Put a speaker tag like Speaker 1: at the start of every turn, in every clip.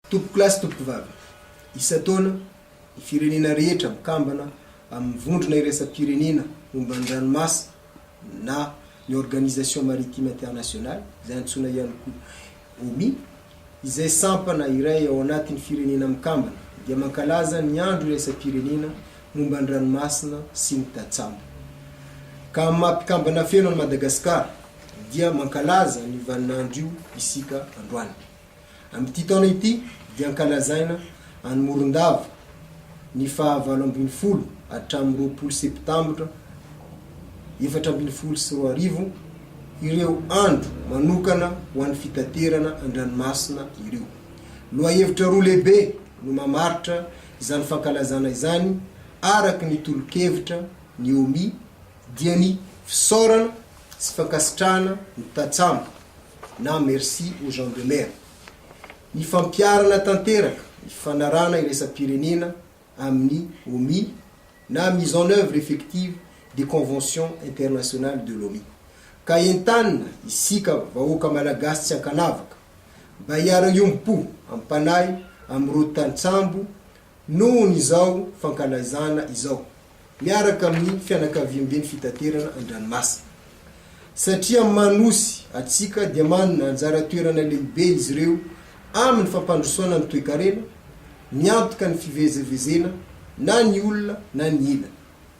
Speaker 1: Tompokolahy sy tompokovavy, isan-taona, ny firenena rehetra mikambana amin'ny Vondrona Iraisam-pirenena momba ny Ranomasina na ny Organisation Maritime Internationale, izay antsoina ihany koa OMI, izay sampana iray ao anatin'ny firenena mikambana, dia mankalaza ny Andro Iraisam-pirenena momba ny Ranomasina sy ny Tantsambo. Ka amin'ny maha mpikambana feno an'i Madagasikara dia mankalaza an'io vaninandro io isika androany. Amin'ity taona ity dia ankalazaina any Morondava ny faha valo ambin'ny folo hatramin'ny roapolo septambra efatra ambin'ny folo sy roa arivo ireo andro manokana ho an'ny fitaterana an-dranomasina ireo. Lohahevitra roa lehibe no mamaritra izany fankalazana izany araka ny tolo-kevitra ny OMI dia ny fisaorana sy fankasitrahana ny tantsambo na merci aux gens de mer. Ny fampiharana tanteraka ny fifanarahana iraisam-pirenena amin'ny Omi na mise en œuvre effective des conventions internationales de l'Omi. Ka entanina isika vahoaka Malagasy tsy ankanavaka mba hiara-hiombo-po ampanahy amin'ireo tantsambo Nohon' izao fankalazana izao miaraka amin' ny fianakaviamben' fitaterana an-dranomasina. Satria manosy atsika dia manana anjara toerana lehibe izy ireo amin' ny fampandrosoana ny toekarena, miantoka ny fivezevezena na ny olona na ny ila.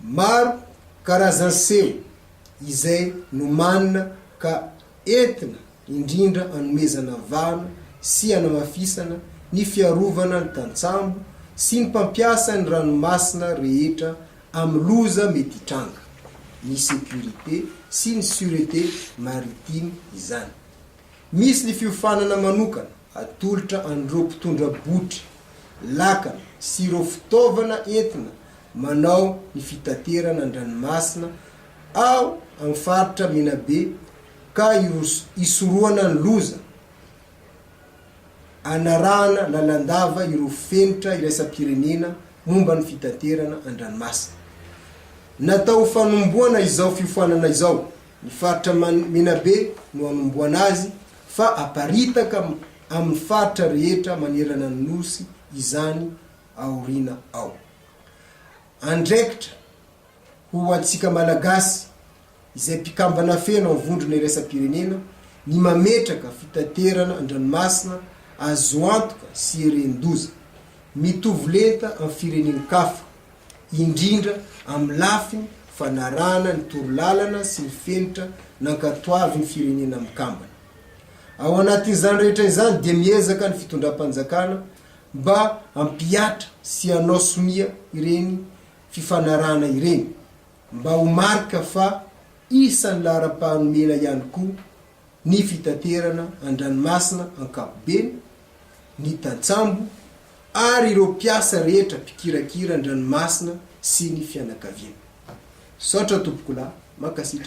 Speaker 1: Maro karazan'ny seho izay nomanina ka entina indrindra hanomezana vahana sy hanamafisana ny fiarovana ny tantsambo sy ny mpampiasa ny ranomasina rehetra amin'ny loza mety hitranga, ny sécurité sy ny sûreté maritime izany. Misy ny fiofanana manokana Atolotra an'ireo mpitondra botry lakana sy ireo fitaovana entina manao ny fitaterana an-dranomasina ao amin'ny faritra Menabe ka hisorohana ny loza hanarahana lalandava ireo fenitra iraisam-pirenena momba ny fitaterana an-dranomasina. Natao ho fanombohana izao fiofanana izao Ny faritra Menabe no hanombohana azy fa haparitaka amin'ny faritra rehetra manerana ny Nosy izany aoriana ao. Andraikitra ho antsika Malagasy izay mpikambana feno amin'ny Vondrona Iraisam-pirenena ny mametraka fitaterana an-dranomasina azo antoka sy eren-doza, mitovy lenta amin'ny firenen-kafa. indrindra amin'ny lafiny fanarahana ny torolalana sy ny fenitra nankatoavin'ny Firenena Mikambana. Ao anatin'izany rehetra izany dia miezaka ny fitondram-panjakana mba hampihatra sy hanao sonia ireny fifanarahana ireny, mba ho marika fa isan'ny laharam-pahanomena ihany koa ny fitaterana an-dranomasina ankapobeny, ny tantsambo ary ireo mpiasa rehetra mpikirakira an-dranomasina sy ny fianakaviana. Misaotra tompokolahy, mankasitraka.